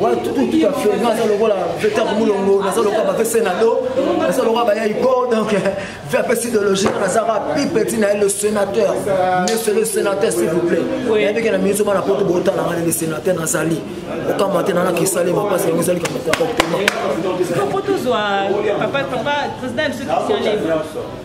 wana tukutuka flagrant aza lokola vecteur mulongo naza lokola bape senado naza lokola bayai go donc ve apesi delogie nazaka pi petit na ye le sénateur monsieur le sénateur s'il vous plaît nayebike na minisi bana poto botala ngani le sénateur nazali okamba te nana kisale mapasi yango ezali kama comportement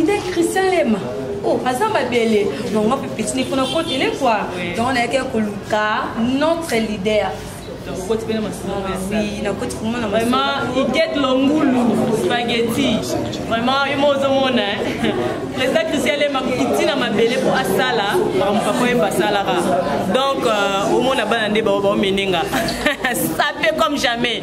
idee christian lema o oh, aza mabele donc nga mpe petini mpona kotele kua donc nayaki ya koluka notre leader okoti mpe na masolo oui nakoti vraimen na vraiment iket longulu spaghetti vraiment yo moko ozomona président christian lema kiti na mabele mpo asala makambo papa yemba asalaka donc omona bana nde baomenenga sape comme jamais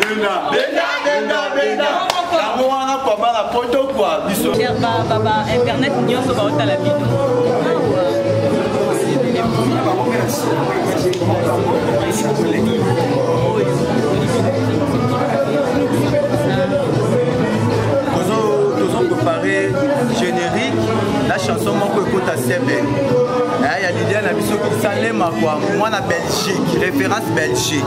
benda benda benda benda yango wana kwa bana poto kwa biso ba internet nyonso baotala bino tozoprepare générique na chanson moko ekota sembe eh, ya lilia na biso kisalema kwa mwana belgique référence belgique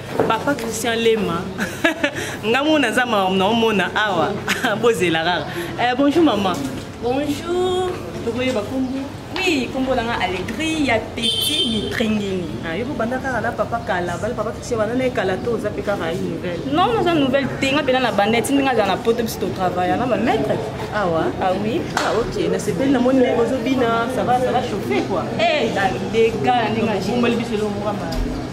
papa christian lema nga mona aza mawa naomona awa bozela kaka eh, bonjour mama bonjour tokoyeba kombo oui kombo na nga alegri ya petit mitringini ah, yo kobanda kaka na papa kala bale papa christian banda na ye kala to oza mpe kaka ye nouvelle non naza nouvelle te nga mpena na banda etindi nga azala na poto biso totravaille na bamaître awa ah, ah oui ah ok nasepeli namoni naye bozobina ça va ça va chauffe quoi eh, dega na ndenge na biso elongoka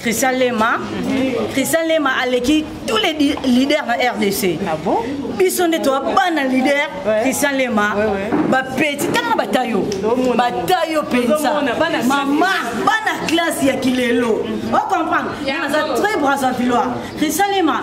Christian Lema. Mhm. Christian Lema aleki tous les leaders na RDC. Ah bon? biso nde toa bana leader christian lema bapeti tanga bata yo bata yo mpenza mama bana classe ya kilelo mhm. ocomprendre naza très brasavillois christian lema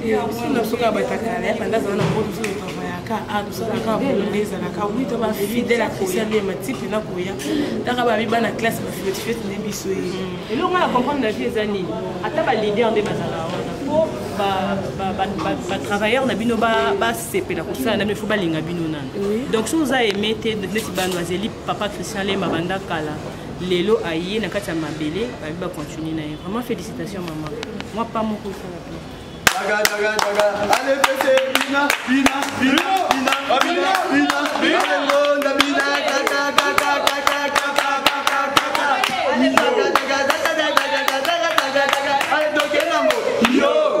biso na biso kaka batakala ya banda azala na mpo biso totravaillaka a tosalaka bolonde ezalaka wi to bafidèle ya christian nde matipe na koya taka babi bana classe bafetefete nde biso ye mm. eloko na comprendre na vie eza nini ata balider nde bazala wana po batravailleur na bino basepela kosala na bino fo balinga bino nano donc so oza aime te neti bano azeli papa christian lema banda kala lelo aye na kati ya mabele babi ba continuer na ye vraiment félicitation mama mwa pa moko esala pe Yo!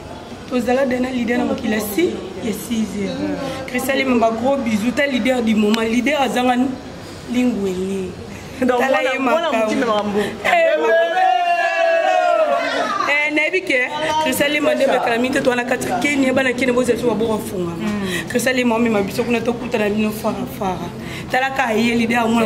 tozala de na leader na mokili asi ya 6 heures christalema ba gros bisou ta leader du moment leader azanga lingwele tala ye makambo nayebi ke krisalema nde bakala mingi te towana kati ya kenya bana kenya bozala biso baboko afunga mm. krisalema omema biso kuna tokutana bino farafara talaka aye lide amona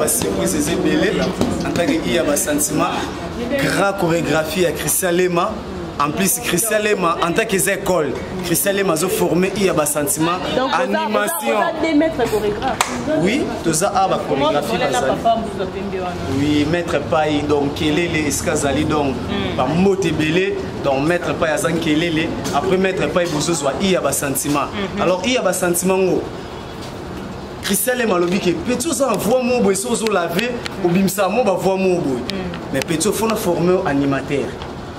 basurprise eza ebele en tant que iya basentiment grand chorégraphie ya christian lema en plus christian lema en tant qu'eza école christian lema azoforme i ya basentiment animation oui toza a bachorégraphie bazali oui maître pai donc kelele esika azali donc hmm. bambote ebele donc maître pai aza nkelele après maître pai bozozwa i ya basentiment hmm. alors i ya basentiment ngo christian lema alobi ke peti oza na voi moko boye so ozolave obimisaka mo bavoi moko boye hmm. mais peti ofona forme animateur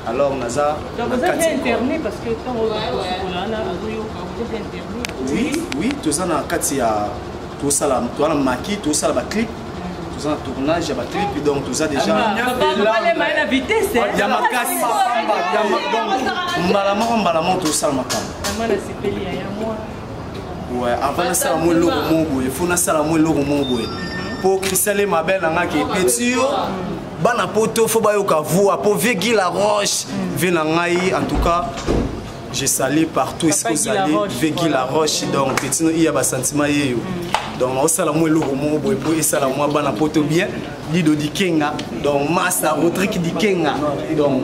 alors naza oui oui toza na kati ya tosala toza na maki tosala baclip toza na tournage ya baclip donc toza déjà ya makasi mbala moko mbala moko tosala makambo ouais avant nasala mwa eloko moko boye fo nasala mwa eloko moko boye mpo christian le mabel nangaki epeti yo bana poto fo bayoka voix po vie gi la roche vie na ngai en tout cas je salue partout esiko ozali vie gi la roche donc petino iya basentiment yeyo mm. donc naosala mwa eloko moko boye po esala mwa bana poto bien lido dikenga donc masa rodrik dikenga donc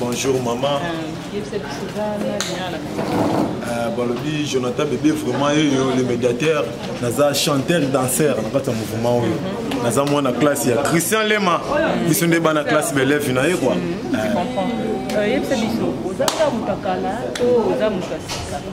Bonjour maman. Euh, balobi jonathan bebe vraiment eyo le médiateur naza chanteur danseur na kati ya mouvement oyo mhm. naza mwana classe ya christian lema biso nde bana classe beleve na ye kua mhm. euh. euh, yebisa biso oza kaka moto ya kala to oza moto ya sika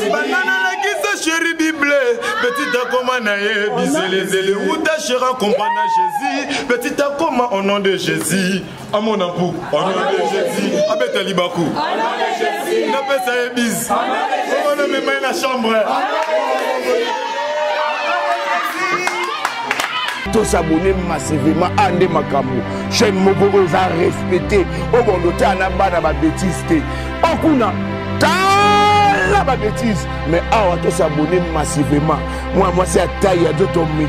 banda nalakisa sheri bible petit akoma na ye bizelezele uta sheri akompa na jésus petit akoma au nom de jésus amona mpu au nom de jésus abeta libaku napesa ye bis ona memai na chambre tosabone massivement a ah, nde makambo chaîne moko oyo eza respecte oyo bondo tala na bana babetise te Oh kuna tala ba bêtises mais awa to s'abonner massivement moi moi c'est à taille ya doto mi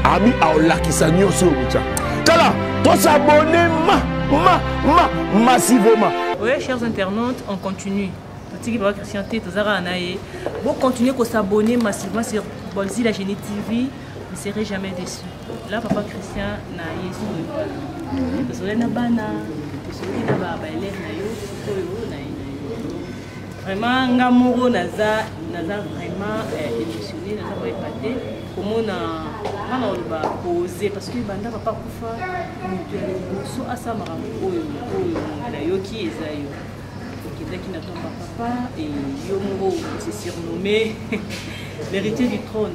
abi aolakisa nyonso oyo kotya tala to s'abonner ma ma ma massivement oui chers internautes on continue totiki papa christian te toza kaka na ye bocontinue kosabonne massivement sur bolzi la génie tv ne serez jamais déçu la papa christian na yesu tozolai na bana tozolaki na baelève na yo sikoyo na ye na yo vraiment nga moko naza naza vraiment euh, émotionné naza vraiment epate komona nga na oloba pose parce que banda papa kufa moto ya liboso asala makambo oyo oyo nayoki eza yo okendaki na tomba papa e yo moko se surnomme l'héritier du trône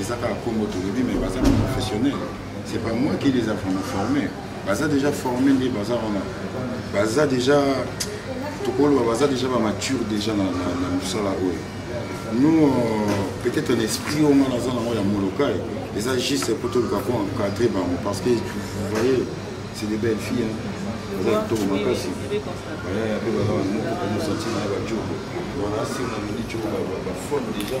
eza kaka nkombo tolobi mais baza na professionnel c'est pas moi qui les a vraiment formés baza déjà formé nde baza wana baza déjà tokoloba baza déjà bamature déjà na mosala oyo nous euh, peut-être un esprit oyo ngai naza nango ya molokai eza juste mpo toluka ko encadre bango parce que vous voyez c'est de belles filles hein. baza kitoko makasi baya yape baza bamoko mpe mosanti na ye bajobo wana se na midi jobo bafone déjà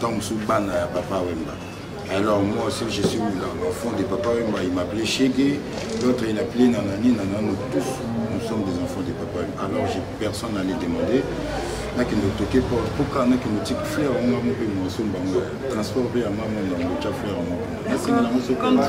Tant sous bana ya papa Wemba. Alors moi aussi je suis là, l'enfant de papa Wemba, il m'appelait Chegue, l'autre il appelait Nanani, Nanani, nous tous, nous sommes des enfants de papa Wemba. Alors j'ai personne à les demander. nakende toke porte mpoka nakende tiki fleur yango yango mpe mosomba yango transport mpe ya mama na yango tya fleur yango nasenga yango sokoata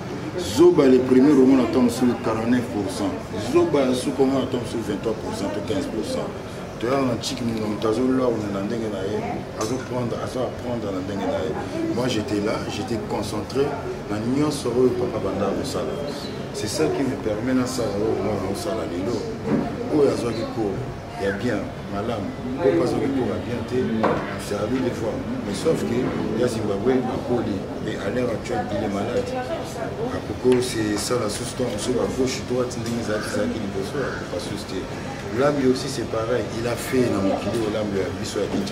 zoba le premier roman na ntango mosusu 49 pourcent zoba ya suka ngo na ntango mosusu 23 pourcent to 15 pourcent toyaka na chiki moto moto azolorne na ndenge na ye azoprendre azo apprendre na ndenge na ye moi j'étais là j'étais concentré na nyonso oyo papa banda akosala c'est ça qui me permet nasala oyo mwana osala lelo oyo azwaki cours ya bien malamu mpo mpasi okitoma bien te servi des fois mais sauf que ya zimbabwe akoli mais à l'heure actuelle il est malade akoko sesala susu ntango mosusu ba gauche droite ndenge ezalaki ezalaki liboso akoka susu te lambi aussi c'est pareil il a fait na mokili oyo lambi ya biso ya kinshasa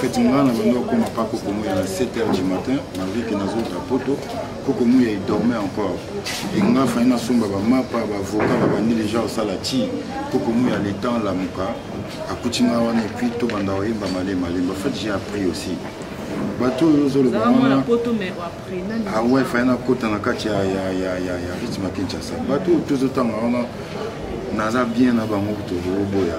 feti ngai na bando okoma pa kokomo ya 7 heures du matin malgré que nazota poto kokomo ya edorme encore enga fai nasomba bamapa bavoka babandi deja osala ti kokomo ya letemp lamuka akuti ngai wana epuis tobanda koyemba male malemba fait j'ai appris aussi bato oyo ozoloba wana awe fai nakota na kati ya rythme ya kinshasa bato oyo tozotanga wana naza bien na bango tozoboya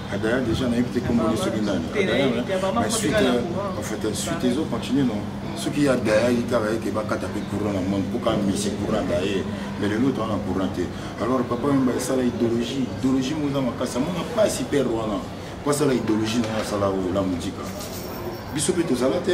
adaya déjà nayebi te komboli soki nani suite en fait suite ezo continue non soki ya daya ye kaka ye ke bakata mpe courant na monde mpoka misi courant da ye mais lelo toza na courant te alors papa yomba esala idéologie idéologie moza makasi amona mpasi pere wana mpo asala idéologie na ye asala ola mojika biso mpe tozala te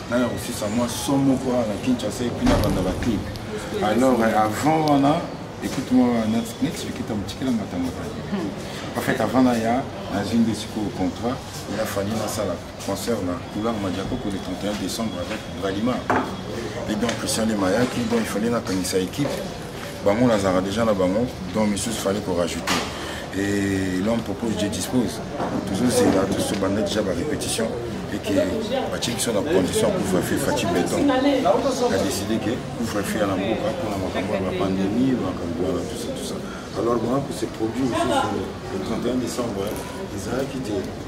naya kosisa mwa so moko wana na kinshasa epuis na banda baclip alors euh, avant wana ekuti mwa neti ekita motikela matangaka en fait avant naya nazwi nde sikoyo contrat ya fani nasala concert na couleur madiakoko le 31 décembre avec bralima et donc christian lemayaki donc il fallait nakangisa équipe bango nazalaka déjà na bango donc misusu fallait ko rajouter et l'homme propose je dispose tozozela tozobanda déjà barépétition et que batie biso na condition ya couvre-feu fati beton adécide ke couvre-feu ya na mboka mpona makambo ya bapandemie makambo wana tusa tusa alors wana ko se produit lisusu le 31 décembre ezalaki te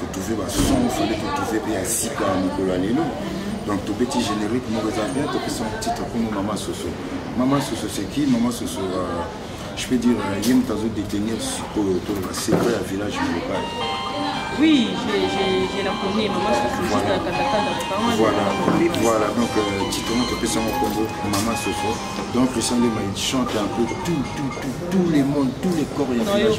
kotrouve bason fale kotrouve mpe ya sika ya mokolo ya lelo donc tobeti générique moko eza bien topesa titre nkombo mama soso mama soso seki mama soso euh, je peux dire euh, ye moto azodetenir sikoyo toloba secret ya village molokai Oui, j'ai la connais, maman, je suis voilà. juste à Katakanda. Voilà, voilà, donc euh, Titono Topesson Congo, maman Soso. Donc le sang de il chante un peu tout, tout, tout, tout les mondes, tous les corps, il y a un village.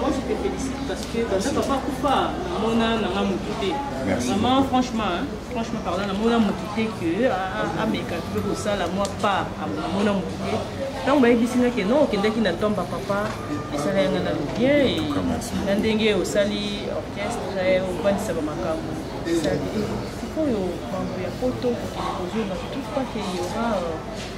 moi je te félicite parce que banda papa akufa namona nanga motu te vraiment franchement franchement pardon namona motu te que ameka mpe kosala mwa part namona motu te ntango bayebisi nga ke non okendaki na ntomba papa esala yanga na lobien na ndenge osali orchestre obandisa bamakambo sikoyo mambo ya poto kokende kozonga tout pas ke yora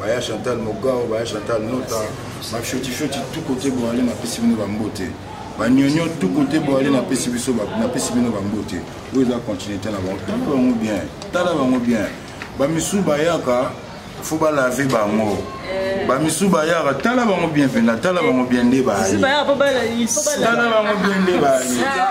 baya chantal mogao baya chantal nota bafiotifio tout côté boale napesi bino bambote banyonyo tout côté boale napesi biso napesi bino bambote oyo eza continuité na bango tala bango bien tala bango bien bamisu bayaka fo balave bango eh. bamisu bayaka tala bango bien mpena tala bango bien nde baayetala bango bien nde baye ah.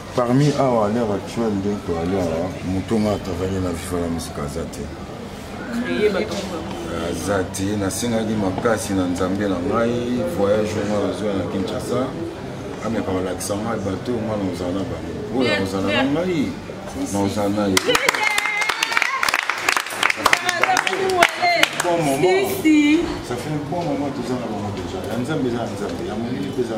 Parmi awa à l'heure actuelle nde toali awa moto nga atravanye na viva la musique aza te aza te nasengaki makasi na nzambe na ngai voyage onga nazwa na kinshasa ameka balakisa ngai bato onga na ozala na bango oyo akozala na ngai na ozala na ye bon moment ça fait un bon moment toza na bango déjà ya nzambe eza ya nzambe ya molili mpe eza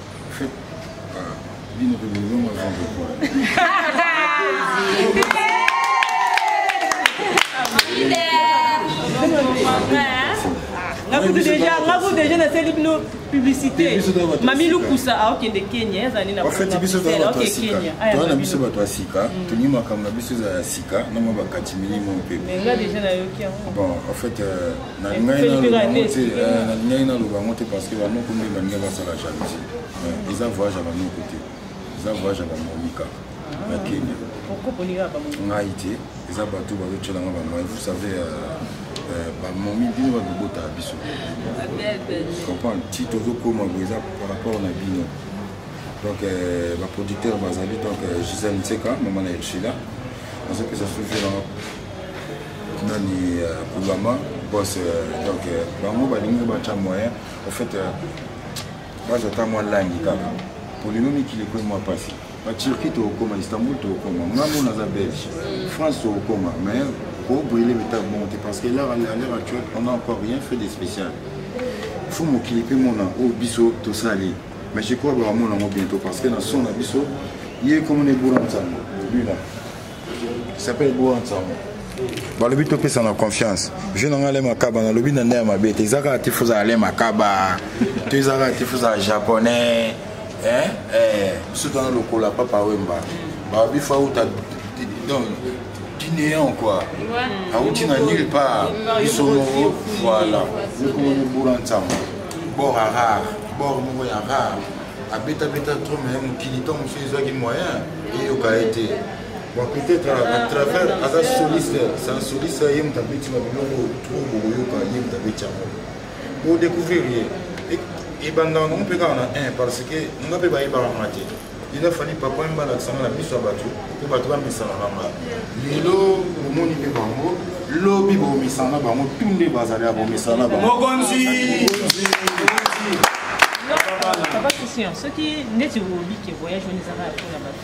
bino mpe bolongo azongo ngakutu deja naseli bino publicité mami lukusa aokende kenya ezali nafati biso toana biso bato ya sika tolingi makambo na biso ezala ya sika na mwa bakati milimo mpe bon en fait euh, nalingaki naloba yango te parce que banoko nde balingi basala jalousie eh, eza voyage ya banoko te eza voyage ya bamomika na kenya ngai te eza bato bazotyela nga bamai vous savez euh, euh, bamomi bino bato bobotaka biso comprendre ti tozokoma boye eza par rapport na bino donc euh, baproducteur bazali donc gisèle nseka mama na elchila Nazo pesa souffle na nani euh, Kugama boss euh, donc euh, bango balingi batya moyen au fait baza ata mwa langi kaka polino mikili ekwe mwa mpasi baturki tokokoma istanbul tokokoma ngambo naza belge france tokokoma mais kobrille meta bon te parce que l'heure à l'heure actuelle on a encore rien fait de spécial fo mokili mpe mona oyo biso tosali mais je crois bakamona yango bientôt parce que na son na biso ye komona ebola nsango lui là s'appelle ebola nsango balobi topesa na confiance jeu na ngai ale makaba nalobi na nde ya mabe te eza kaka tifu ozala ale makaba to eza kaka tifu ozala japonais biso tana lokola papa wemba babifa uta donc guinéen quoi awuti na nulle part biso moko voilà yokomoni bura nsango bor a rare bor moko ya rare abetabeta trop me mokili to mosusu ezwaki moyen eyoka ye te bon peut-être à travers aza soliste c'est un soliste ye moto abeti na biloko trop bokoyoka ye moto abeti yango odécouvrir ye ebandaka nango mpe kaka na 1 parce que nga mpe bayebaka nga te eza fali papa wemba alakisanga na miso ya bato mpo bato bamisanaka nga lelo bomoni mpe bango lobi bomisana bango tu nde bazali ya bomisana bangomokonzi papa christian soki ndeti olobi ke voyage wana ezaka ya mpona bato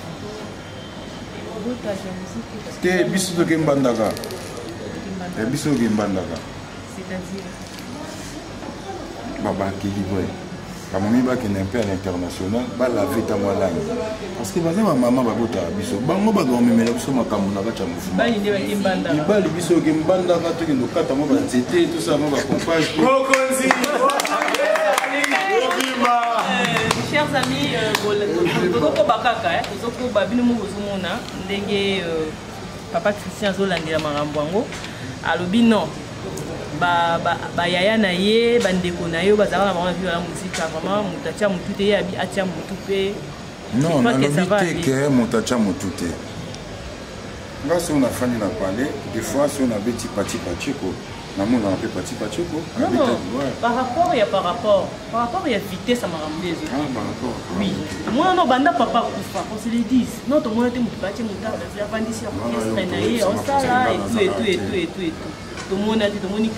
te biso tokembandaka biso tokembandaka babakeli boye bamomi bakende mpe à l'international balave ntango alangi parce que baza bamama babotaka biso bango bato bamemela biso makambo na kati ya mouvemibali biso oke mbandaka tokende okata mwa banzete tosala mwa bacompage chers amis euh, tozokoba kaka tozokoba bino moko bozomona ndenge euh, papa christian azolandela makambo yango alobi non bayaya na ye bandeko na ye oyo bazalaka na bango na viva ya mozika vraiment moto atya motu te ye atya motu mpe non nalobi te ke moto atya motu te nga soki nafandi na palais des fois soki nabeti patipatiko namonaka mpe pati pachoko par rapport ya par rapport par rapport ya vitesse ya makambo nde ezowi omona no banda papa akufa consolidis no tomona te moto batie motala avandisi ya orchestre na ye osala etu etu etu etu etu tomona te tomoni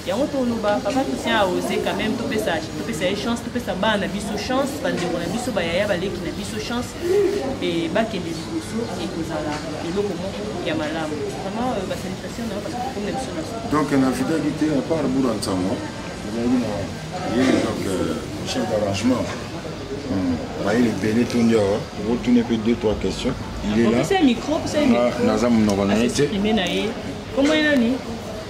yango toloba papa christian aose quand même topesa ye chance topesa bana na biso chance bandeko na biso bayaya baleki na biso chance mpe bakende liboso ekozala eloko moko ya malamu vraiment euh, basalitation na yo parce que comme na biso na donc na vidaki te à part bura nsango ezalaki na ye donc euh, chef d'arrangement bayeli ebele tondi awa okotuni mpe deux trois questions il est là naza monoko na ye te kombo ye nani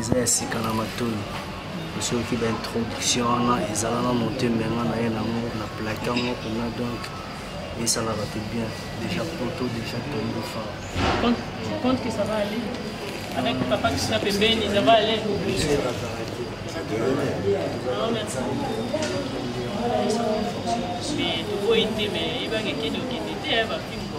eza ya sika na matoni soki baintroduction wana ezala na motema nga na ye nango na plake yango kuna donc esala bato bien déjà poto déjà tondofa compte que ça va aller avec papa qui sera pembeni ça va aller mais tokoyi te mais ebange kende okende te bafimbo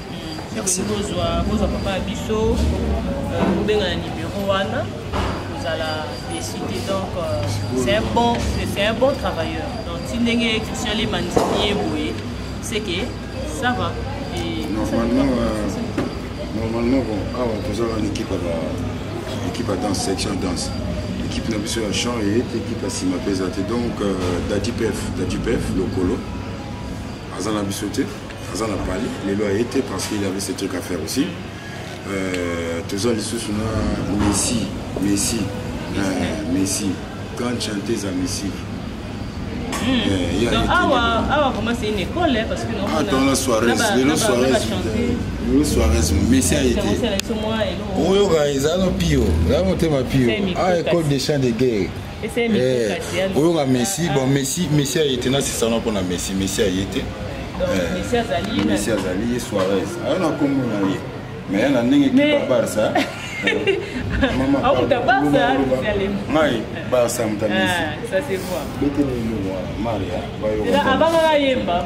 Merci. Bozwa bozwa papa biso kobenga euh, na numéro wana kozala décidé donc euh, c'est un bon c'est un bon travailleur donc ti ndenge Christian Lema ndimi ye boye c'est que ça va et normalement euh, normalement bon awa ah tozala na équipe ya équipe ya danse section danse équipe na biso ya chant eye te équipe ya nsima mpe eza te donc euh, dadipef dadipef lokolo aza na biso te aza na pali lelo aye te parce qu'il avait ce truc à faire aussi euh, toza lisusu na messi messi euh, messi grande chanteuse ya messi atona soirés lelo soirés lelo soirés messi aye te oyoka eza no pio eza motema pio a école de chant de guerre eh, oyoka messi bon messi messi aye te nasisana mpona messi messi aye te eh, messi azali ye soares ayo na nkombo na ye mais na ndenge kipa barça akuta barça ngai barça moto amesibetele eloko wana maria abangaka yemba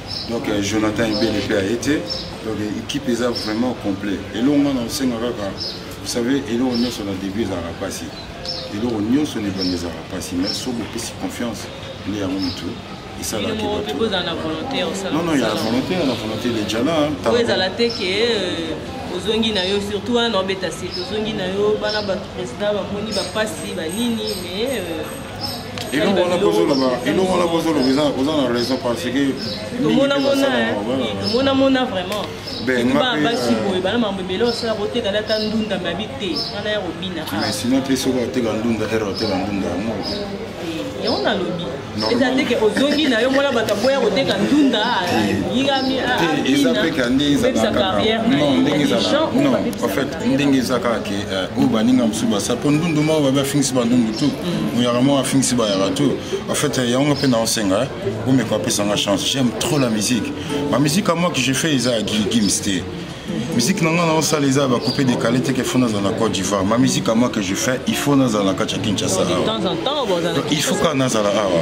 donc euh, jonathan ebele mpe aye te donc équipe eza vraiment complet eloko nga na osenga kaka vous savez eloko nyonso na début ezalaka mpasi eloko nyonso na ebanda ezalaka mpasi mais so bopesi confiance nde yango motu esalaki non non ya la volonté ya la volonté de jala oyo ezala te ke euh, ozongi na yo surtout wana obeta sete ozongi na yo bana bato président bamoni bapasi banini mais euh, eloko wana bozoloba eloko wana bozoloba oza na raison parce que tomonamona vraiment basi boye bana mambo ebele osala kotekala ata ndunda mabi te wana ya kobina sino mpe soki oteka ndunda ere oteka ndunda yango yango nalobi eza te ke ozongi na yo mwana bato aboya koteka ndunda yingami abina pepesa carrière na ye ndenge eza kaka ke eh, oyo baninga mosusu basala mpo ndundu moko babi afingisi bandundu tu oyaka moko afingisi bayaka tu en fait eh, yango mpe naosenga eh. omeka apesanga chance j'aime trop la musique ma musique à moi que je fais eza ya gims te musique na ngai naosala eza bakupe dekale teke fo nazala na cote d'ivoire ma musique à moi que je fais il faut nazala na kati ya kinshasa awa il faut kaka nazala awa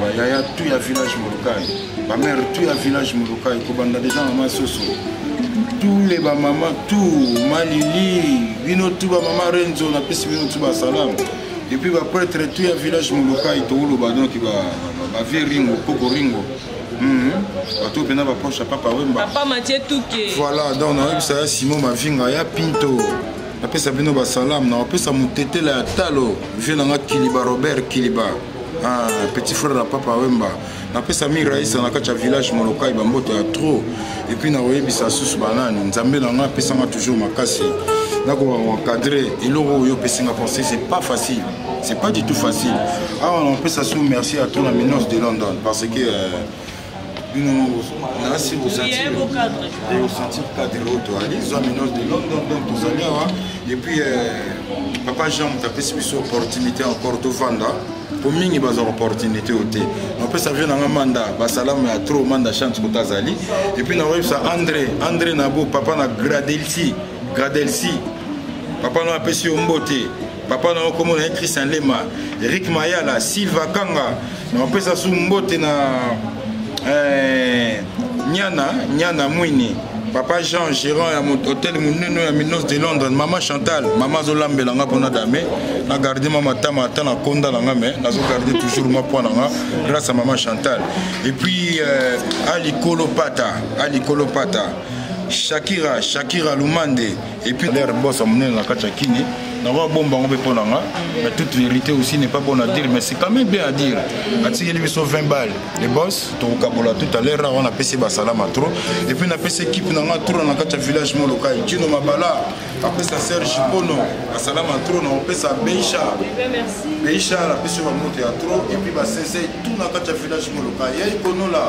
ba yaya tu ya village molokai ba mère tu ya village molokai kobanda deja mama soso tous les bamama tout malili bino tu bamama renzo napesi bino tu basalam epuis bapretre tu ya village molokai tokoloba donc bavie ringo koko ringo mhm. bato mpena baproche ya papa wemba voilà donc nayebisa ya simon mavinga ya pinto napesa bino basalamu na bapesa motetela ya talo vie na nga kiliba robert kiliba ah, petit frère ya papa wemba napesa mi raisa na kati ya village molokai bamboto ya trop epuis nakoyebisa susu banani nzambe na nga apesanga toujours makasi nakoka koencadre eloko oyo opesinga pensé c'est pas facile c'est pas du tout facile awa ah, napesa su merci à tona minos de london parce que euh, bino nasi osentir cadre oyo toali zwa minose de london donc tozali awa epuis papa jean moto apesi biso opportunité encore tovanda po mingi bazwaka opportunité oyo te napesa vie nanga manda basalamu ya trop manda chance kota azali epuis nakoyebisa andré andré nabo papa na gradelsi gradelsi papa no apesi yo mbote papa na yo kombo na ye christian lema eric mayala silva kanga na opesa su mbote na eh, nyana nyana mwini papa jean gérant ya hotel monene ya minos de londres mama chantal mama azolambela nga mpona dame na garde ma matama ata na konda na nga me nazogarde toujours ma mpo na nga grâce ya mama chantal et puis euh, alikolo pata alikolo pata shakira shakira lumande epuis lere mbosa monene na kati ya kini nakoka bomba yango mpe mpo na nga mais toute vérité aussi n'est pas bon à dire mais c'est quand même bien à dire atikeli biso 20 balle le boss tokokabola tout à l'heure wana apesi basalama trop epuis napesi équipe na nga tour na kati ya village molokai kino mabala apesa serge pono asalama trop na kopesa beisha beisha napesi bamoto ya trop epuis basese tout na kati ya village molokai yai konola